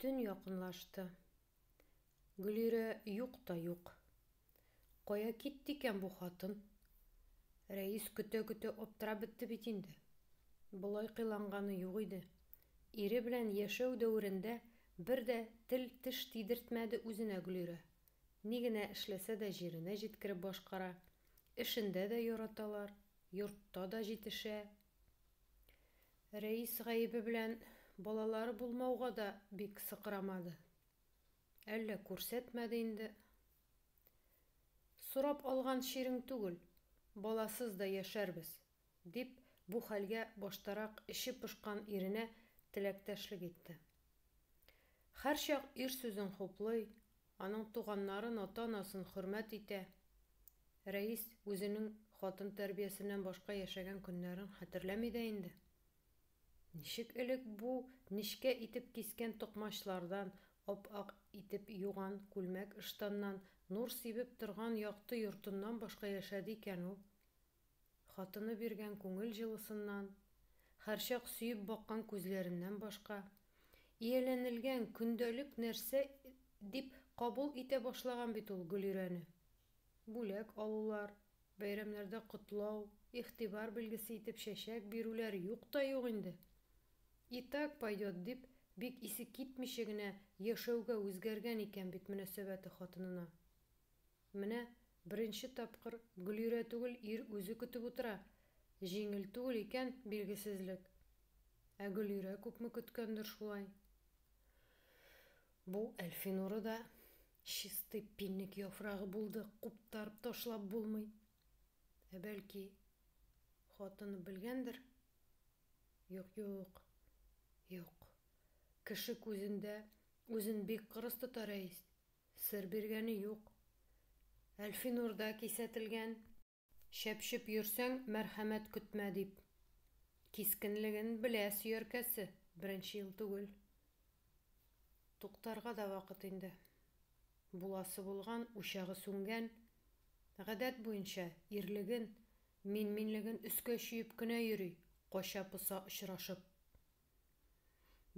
Төн якынлашты. Гөлирә юк та юк. Кая китте икән бу хатын? Рәис көтә-көтә аптырап бетте бит инде. Болай кыйланганы юк иде. Ире белән яшәү дәверендә бер дә тел-теш тидертмәде үзенә Гөлирә. Ни генә эшләсә дә җиренә җиткереп башкара, эшендә дә яраталар, йортта да җитешә, Рәис гаебе белән балалары булмауга да бик сыкрамады. Әллә күрсәтмәде инде. Сорап алган чирең түгел, баласыз да яшәрбез, дип, бу хәлгә баштарак эче пошкан иренә теләктәшлек итте. Һәрчак ир сүзен хуплый, Аның туганнарын, ата-анасын хөрмәт итә. Рәис үзенең хатын тәрбиясеннән башка яшәгән көннәрен хәтерләми дә инде. Ничек элек бу нечкә итеп кискән токмачлардан, ап-ак итеп юган күлмәк-ыштаннан, нур сибеп торган якты йортыннан башка яшәде икән ул? Хатыны биргән күңел җылысыннан, һәрчак сөеп баккан күзләреннән башка, ияләнелгән көндәлек нәрсә дип кабул итә башлаган бит ул Гөлирәне. Бүләк алулар, бәйрәмнәрдә котлау, игътибар билгесе итеп чәчәк бирүләр юк та юк инде. И так пойдет дип, бик исе китмичә генә яшәүгә үзгәргән икән бит мөнәсәбәте хатынына. Менә беренче тапкыр Гөлирә түгел, ир үзе көтеп утыра. Җиңел түгел икән билгесезлек. Ә Гөлирә күпме көткәндер шулай. Бу Әлфинуры да чистый пинник яфрагы булды, куптарып ташлап булмый. Ә бәлки, хатыны белгәндер? Юк-юк. Юк. Кеше күзендә үзен бик кырыс тота Рәис. Сер биргәне юк. Әлфинур да кисәтелгән. Чәпчеп йөрсәң, мәрхәмәт көтмә, дип. Кискенлеген белә сөяркәсе, беренче ел түгел. Туктарга да вакыт инде. Буласы булган, учагы сүнгән. Гадәт буенча, ирлеген, мин-минлеген өскә чөеп кенә йөри, кача-поса очрашып.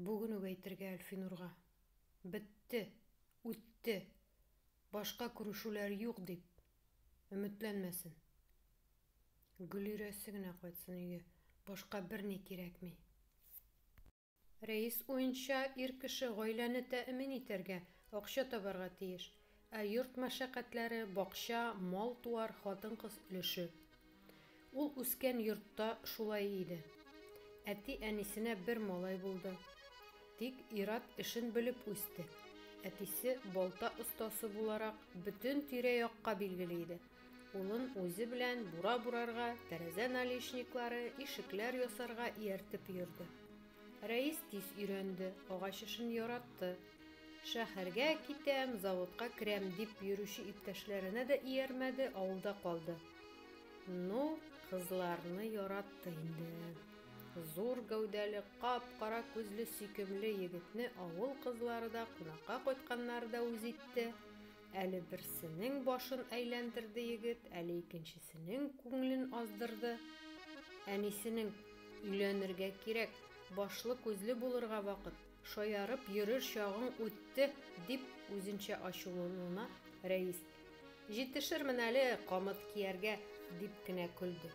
Бүген үк әйтергә Әлфинурга. Бетте! Үтте! Башка күрешүләр юк, дип. Өметләнмәсен. Гөлирәсе генә кайтсын өйгә, башка берни кирәкми. Рәис уенча, ир кеше гаиләне тәэмин итәргә акча табарга тиеш. Ә йорт мәшәкатьләре, бакча, мал-туар, хатын-кыз өлеше. Ул үскән йортта шулай иде. Әти-әнисенә бер малай булды. Тик ир-ат эшен белеп үсте. Әтисе балта остасы буларак бөтен тирә-якка билгеле иде. Улын үзе белән бура бурарга, тәрәзә наличниклары, ишекләр ясарга ияртеп йөрде. Рәис тиз өйрәнде, агач эшен яратты. Шәһәргә китәм, заводка керәм, дип йөрүче иптәшләренә дә иярмәде, авылда калды. Ну, кызларны яратты инде. Зур гәүдәле, кап-кара күзле сөйкемле егетне авыл кызлары да, кунакка кайтканнары да үз итте. Әле берсенең башын әйләндерде егет, әле икенчесенең күңелен аздырды. Әнисенең, Өйләнергә кирәк, башлы-күзле булырга вакыт! Шаярып йөрер чагың үтте, дип үзенчә ачулануына Рәис, Җитешермен әле камыт кияргә, дип кенә көлде.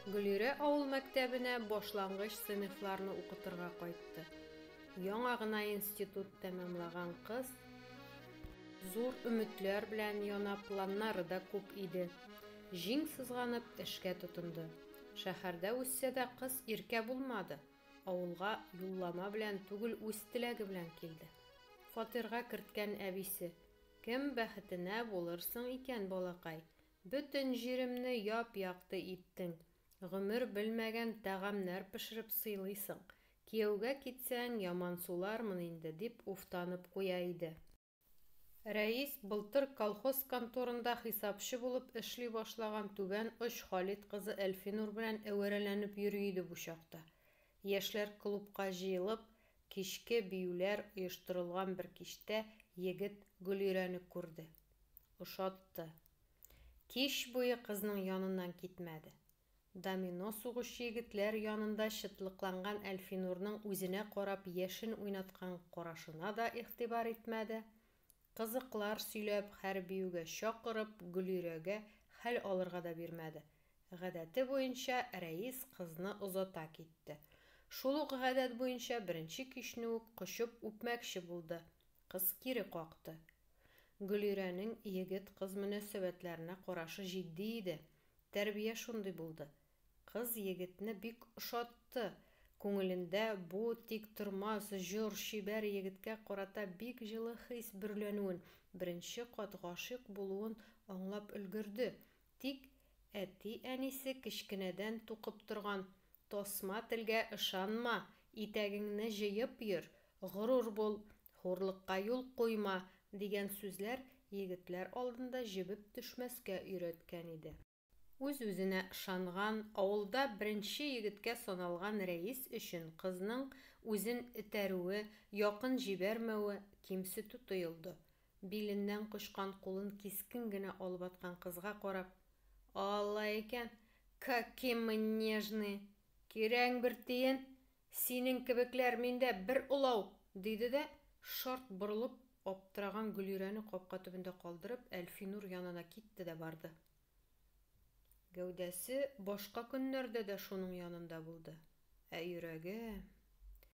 Гөлирә авыл мәктәбенә башлангыч сыйныфларны укытырга кайтты. Яңа гына институт тәмамлаган кыз зур өметләр белән яна планнары да күп иде. Җиң сызганып эшкә тотынды. Шәһәрдә үссә дә кыз иркә булмады. Авылга юллама белән түгел үз теләге белән килде. Фатирга керткән әбисе, Кем бәхетенә булырсың икән, балакай? Бөтен җиремне яп-якты иттең, гомер белмәгән тәгамнәр пешереп сыйлыйсың. Кияүгә китсәң, ямансулармын инде, дип уфтанып куя иде. Рәис былтыр колхоз конторында хисапчы булып эшли башлаган Түбән Оч Халит кызы Әлфинур белән әвәрәләнеп йөри иде бу чакта. Яшьләр клубка җыелып, кичке биюләр оештырылган бер кичтә егет Гөлирәне күрде. Ошатты. Кич буе кызның яныннан китмәде. Домино сугучы егетләр янында чытлыкланган Әлфинурның үзенә карап яшен уйнаткан карашына да игътибар итмәде. Кызыклар сөйләп, хәр биюгә чакырып, Гөлирәгә хәл алырга да бирмәде. Гадәте буенча, Рәис кызны озата китте. Шул ук гадәт буенча беренче кичне үк кочып үпмәкче булды. Кыз кире какты. Гөлирәнең егет-кыз мөнәсәбәтләренә карашы җитди иде, Тәрбия шундый булды. Кыз егетне бик ошатты. Күңелендә бу тиктормас, җор, чибәр егеткә карата бик җылы хис бөрләнүен, беренче кат гашыйк булуын аңлап өлгерде. Тик әти-әнисе кечкенәдән тукып торган, Тосма телгә ышанма, итәгеңне җыеп йөр, горур бул, хурлыкка юл куйма, дигән сүзләр егетләр алдында җебеп төшмәскә өйрәткән иде. Үз-үзенә ышанган, авылда беренче егеткә саналган рәис өчен кызның үзен этәрүе, якын җибәрмәве кимсетү тоелды. Биленнән кочкан кулын кискен генә алып аткан кызга карап, Алла икән, каки мы нежные! Кирәгең бер тиен, синең кебекләр миндә бер олау! диде дә, шарт борылып, аптыраган Гөлирәне капка төбендә калдырып, Әлфинур янына китте дә барды. Гәүдәсе башка көннәрдә дә шуның янында булды, ә йөрәге.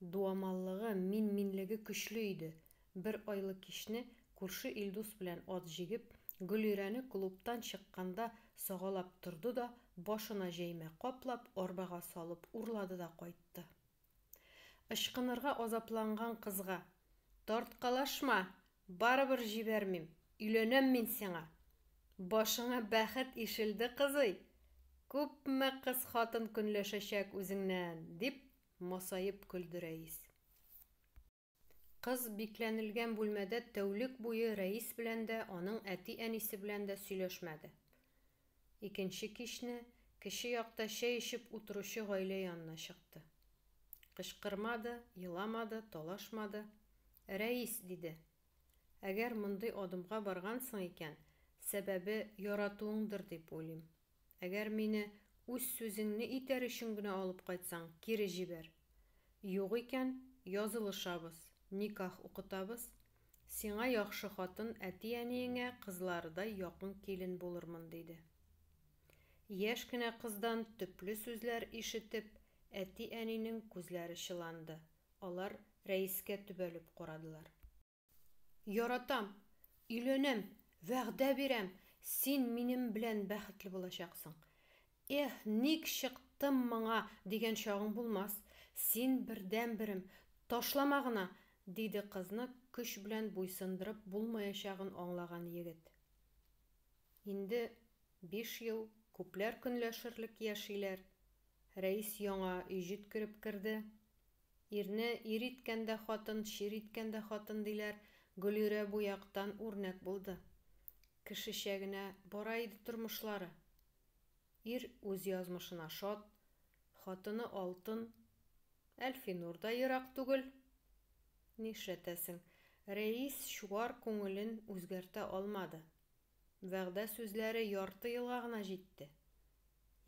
Дуамаллыгы, мин-минлеге көчле иде. Бер айлы кичне, күрше Илдус белән ат җигеп, Гөлирәне клубтан чыкканда сагалап торды да, башына җәймә каплап, арбага салып урлады да кайтты. Ычкынырга азапланган кызга, Тарткалашма! Барыбер җибәрмим! Өйләнәм мин сиңа! Башыңа бәхет ишелде, кызый! Күпме кыз-хатын көнләшәчәк үзеңнән! дип, Масаеп көлде Рәис. Кыз бикләнелгән бүлмәдә тәүлек буе Рәис белән дә, аның әти-әнисе белән дә сөйләшмәде. Икенче кичне кече якта чәй эчеп утыручы гаилә янына чыкты. Кычкырмады, еламады, талашмады. Рәис! диде. Әгәр мондый адымга баргансың икән, сәбәбе яратуыңдыр дип уйлыйм. Әгәр мине үз сүзеңне итәр өчен генә алып кайтсаң, кире җибәр. Юк икән, язылышабыз, никах укытабыз, сиңа яхшы хатын, әти-әниеңә кызларыдай якын килен булырмын, диде. Яшь кенә кыздан төпле сүзләр ишетеп, әти-әнинең күзләре чыланды, алар Рәискә төбәлеп карадылар. Яратам, өйләнәм, вәгъдә бирәм, син минем белән бәхетле булачаксың. Эх, ник чыктым моңа, дигән чагың булмас. Син бердәнберем, ташлама гына, диде кызны көч белән буйсындырып булмаячагын аңлаган егет. Инде биш ел күпләр көнләшерлек яшиләр. Рәис яңа өй җиткереп керде. Ирне ир иткән дә хатын, чир иткән дә хатын, диләр, Гөлирә бу яктан үрнәк булды. Кешечә генә бара иде тормышлары. Ир үз язмышына шат, хатыны алтын. Әлфинур да ерак түгел. Нишләтәсең, Рәис чуар күңелен үзгәртә алмады. Вәгъдә сүзләре ярты елга гына җитте.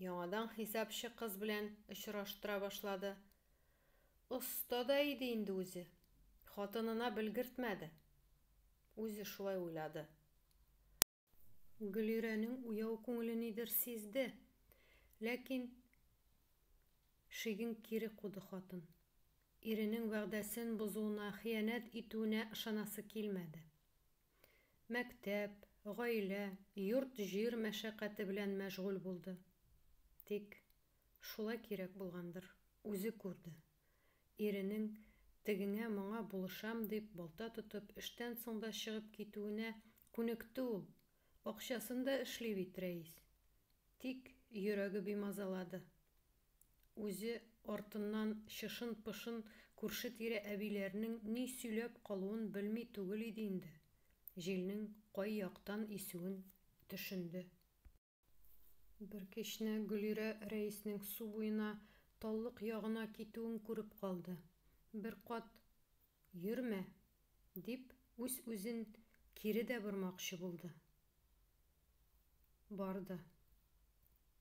Яңадан хисапчы кыз белән очраштыра башлады. Оста да иде инде үзе, хатынына белгертмәде. Үзе шулай уйлады. Гөлирәнең уяу күңеле нидер сизде, ләкин шиген кире куды хатын. Иренең вәгъдәсен бозуына, хыянәт итүенә ышанасы килмәде. Мәктәп, гаилә, йорт-җир мәшәкате белән мәшгуль булды. Тик, шулай кирәк булгандыр, үзе күрде. Иренең, тегеңә-моңа булышам дип, балта тотып, эштән соң да чыгып китүенә күнекте ул. Акчасын да эшли бит рәис. Тик йөрәге бимазалады. Үзе артыннан чышын-пышын күрше-тирә әбиләренең ни сөйләп калуын белми түгел иде инде, җилнең кай яктан исүен төшенде. Бер кичне Гөлирә рәиснең су буена, таллык ягына китүен күреп калды. Беркат Йөрмә! дип, үз-үзен кире дә бормакчы булды. Барды.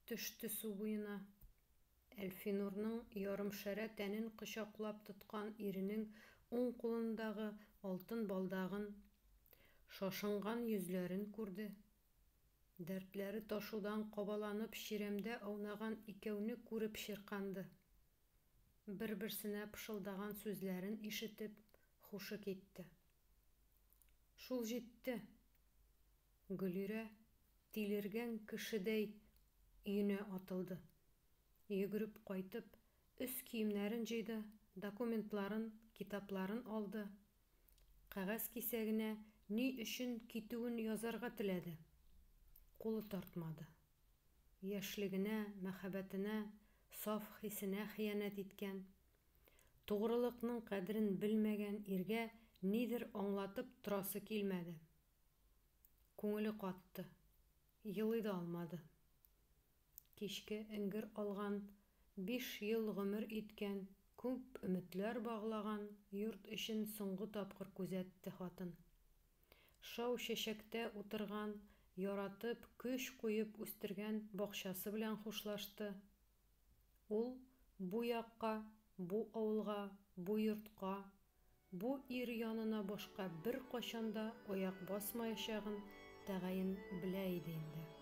Төште су буена. Әлфинурның ярымшәрә тәнен кочаклап тоткан иренең уң кулындагы алтын балдагын, шашынган йөзләрен күрде. Дәртләре ташудан кабаланып чирәмдә аунаган икәүне күреп чирканды. бер-берсенә пышылдаган сүзләрен ишетеп хушы китте. Шул җитте! Гөлирә тилергән кешедәй өенә атылды. Йөгереп кайтып, өс киемнәрен җыйды, документларын, китапларын алды, кәгазь кисәгенә ни өчен китүен язарга теләде, кулы тартмады. Яшьлегенә, мәхәббәтенә, саф хисенә хыянәт иткән, тугрылыкның кадерен белмәгән иргә нидер аңлатып торасы килмәде. Күңеле катты. Елый да алмады. Кичке эңгер алган, биш ел гомер иткән, күп өметләр баглаган йорт эчен соңгы тапкыр күзәтте хатын. Шау чәчәктә утырган, яратып, көч куеп үстергән бакчасы белән хушлашты. Ул бу якка, бу авылга, бу йортка, бу ир янына башка беркайчан да аяк басмаячагын тәгаен белә иде инде.